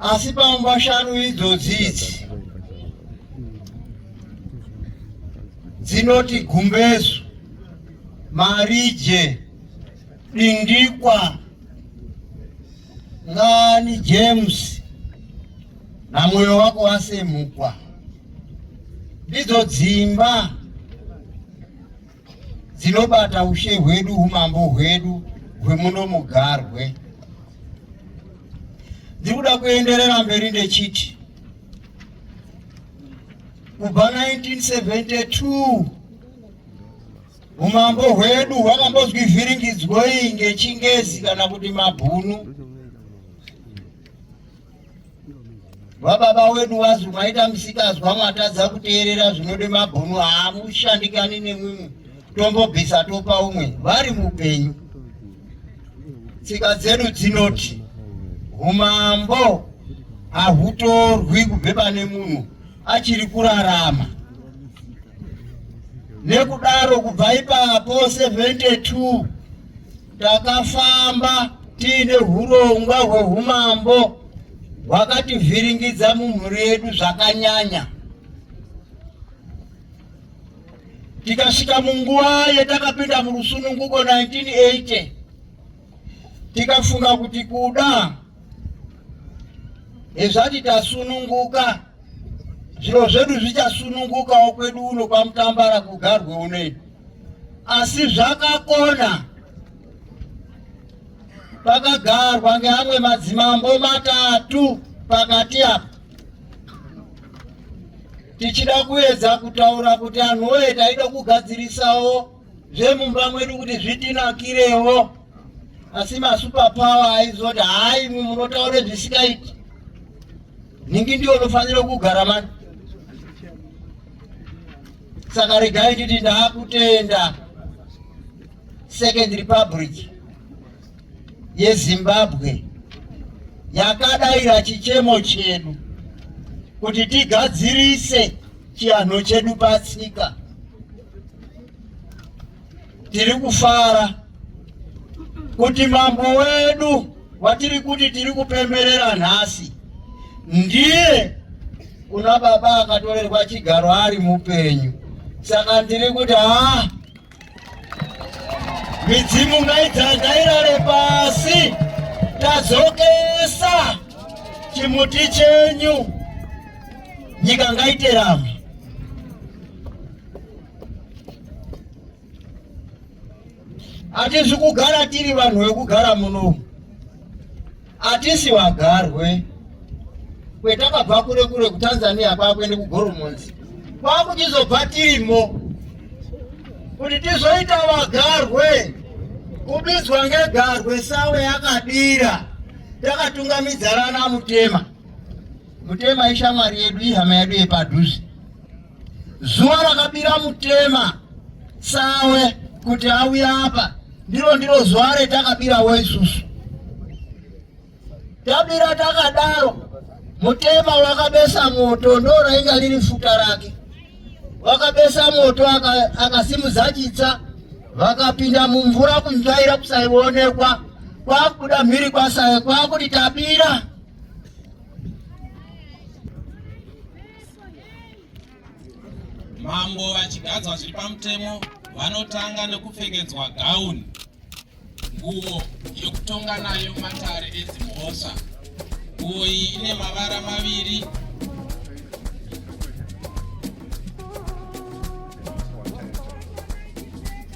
asi pamba shanu idzodzi idzi dzinoti gumbezu marije dindikwa ngani james na moyo wako wasemukwa ndidzo dzimba dzinobata ushe hwedu umambo hwedu hwemuno mugarwe ndiri kuda kuenderera mberi ndechiti kubva 1972 umambo hwedu hwakambozwi vhiringidzwoi ngechingezi kana kuti mabhunu vababa wedu wazi mwaita musikazwa mwatadza kuteerera zvinode mabhunu haamushandikani nemwimwe tombobvisa topa umwe vari mupenyu tsika dzedu dzinoti umambo hahutorwi kubve pane munhu achiri kurarama nekudaro kubva ipapo 72 Takafamba tiine hurongwa hwehumambo hwakativhiringidza mumhuri yedu zvakanyanya. Tikasvika munguva yetakapinda murusununguko 1980 tikafunga kuti kuda hezvati tasununguka zviro zvedu zvichasunungukawo kwedu uno kwamutambara kugarwe unoino asi zvakakona pakagarwa ngeamwe madzimambo matatu pakati apa tichida kuedza kutaura kuti anhu woye taida kugadzirisawo zvemumba mwedu kuti zvitinakirewo asi masuperpower aizoti hayi imwi munotaure zvisikaiti nhingi ndiyo unofanira kugara mani Saka regai nditi ndakutenda Second Republic yeZimbabwe yakadaira chichemo chedu kuti tigadzirise chianho chedu patsika Tiri kufara kuti mambo wedu watiri kuti tiri kupemberera nhasi ndiye kuna baba akatorerwa chigaro ari mupenyu. Saka ndiri kuti haa midzimu ngaidzandairare pasi tadzokesa chimuti chenyu nyika ngaiterama Hatisi kugara tiri vanhu vekugara munomu, hatisi vagarwe kwetakabva kure kure kuTanzania kwakuende kugoromonzi kwakuchizobva tirimo kuti tizoita vagarwe kubidzwa ngegarwe sawe yakadira takatungamidzarana mutema Mutema ishamwari yedu, ihama yedu yepadhuze. Zuva rakabira Mutema sawe kuti auye apa ndiro ndiro zuva retakabirawo isusu. Tabira takadaro, Mutema wakabesa moto, ndo rainga riri futa rake. Wakabesa moto akasimudza aka chitsa, vakapinda mumvura kunzvaira kusaionekwa, kwakuda mhiri kwasawe kwakuti tabira Mambo vachigadzwa zviri pamutemo vanotanga nekupfekedzwa gauni, nguo yekutonga nayo matare edzimhosva. Nguo iyi ine mavara maviri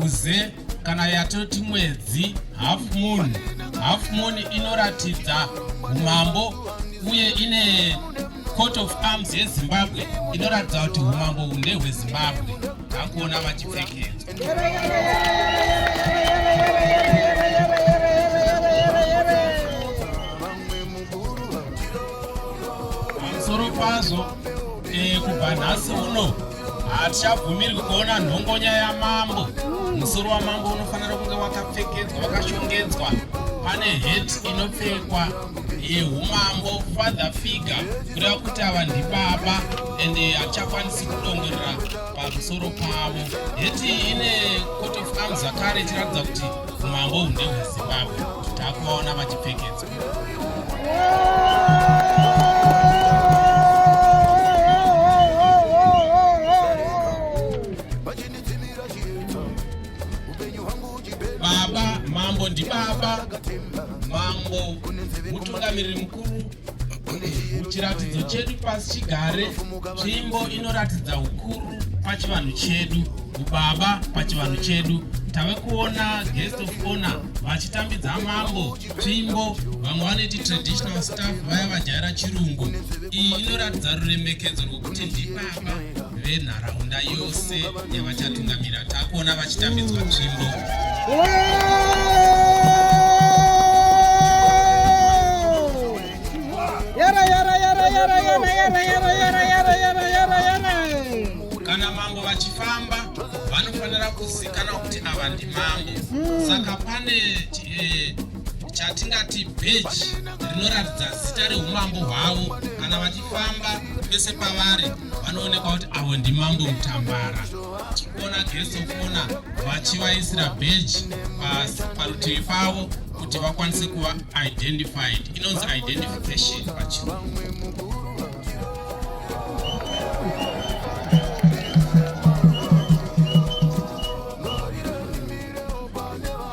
Guze kana yatoti mwedzi half moon. Half moon inoratidza umambo uye ine court of arms yezimbabwe inoratidza kuti umambo uhu ndehwezimbabwe akuona vachipfekedzwa pamusoro pazvo eh, kubva nhasi uno hatichabvumirwi kuona nhongonya yamambo musoro wamambo unofanira kunge wakapfekedzwa wakashongedzwa pane het inopfekwa yeumambo father figure kureva kuti ava ndibaba and hatichakwanisi kudongorera pamusoro pavo het ine court of arms zvakare ichiratidza kuti umambo hunde hwezimbabwe takuvaona vachipfekedzwa Baba mambo ndi baba mambo mutungamiriri mukuru muchiratidzo chedu pasi chigare tsvimbo inoratidza ukuru pachivanhu chedu ubaba pachivanhu chedu tave kuona guest of honor vachitambidza mambo Tsvimbo, vamwe vanoiti traditional staff vaya vajaira chirungu, iyi inoratidza ruremekedzo rwokuti ndibaba venharaunda yose yavachatungamira. Takuona vachitambidzwa tsvimbo. Kana mambo vachifamba vanofanira kuzikanwa kuti ava ndimambo, saka pane eh, chatingati beji rinoratidza zita reumambo hwavo kana vachifamba pese pavari vanoonekwa kuti avo ndimambo mutambara chikona geso kona vachivaisira beji parutivi pavo kuti vakwanise kuva identified inonzi identification pachirungu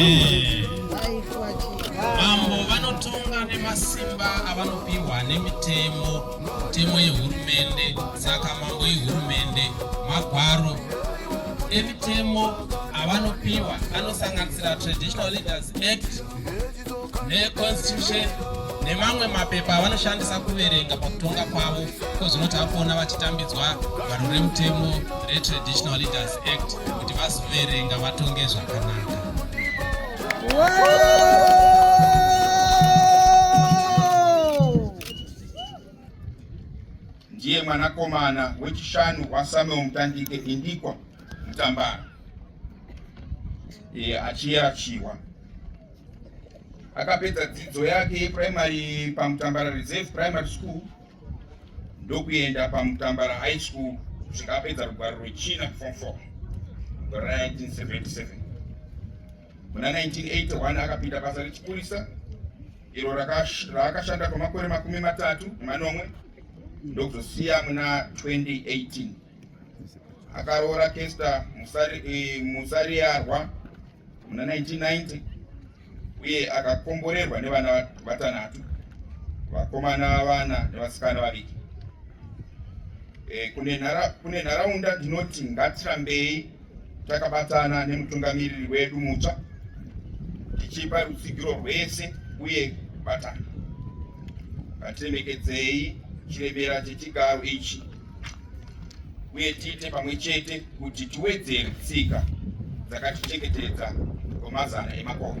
Eh. mambo vanotonga nemasimba avanopiwa nemitemo mitemo yehurumende saka mambo yehurumende magwaro emitemo avanopiwa anosanganisira traditional leaders act neconstitution nemamwe mapepa avanoshandisa kuverenga pakutonga kwavo ko zvinoti akuona vachitambidzwa vanhu remutemo retraditional leaders act kuti vazoverenga vatonge zvakanaka ndiye mwanakomana wechishanu wasamuel mutandike indikwa mutambara e, achiyerachiwa Akapedza dzidzo yake yeprimary paMutambara Reserve Primary School ndokuenda paMutambara High School kusvika apedza rugwaro rwechina form 4 gore ra 1977. Muna 1981 akapinda basa rechipurisa iro raakashanda kwamakore makumi matatu nemanomwe ndokuzosiya muna 2018. akaroora Kester eh, Musariyarwa muna 1990 uye akakomborerwa nevana vatanhatu vakomana vana nevasikana vaviki e, kune nharaunda ndinoti ngatirambei takabatana nemutungamiriri wedu mutsva tichipa rutsigiro rwese uye kubatana ngatiremekedzei chiremera chechigaro ichi uye tiite pamwe chete kuti tiwedzere tsika dzakatichengetedza kwemazana emakore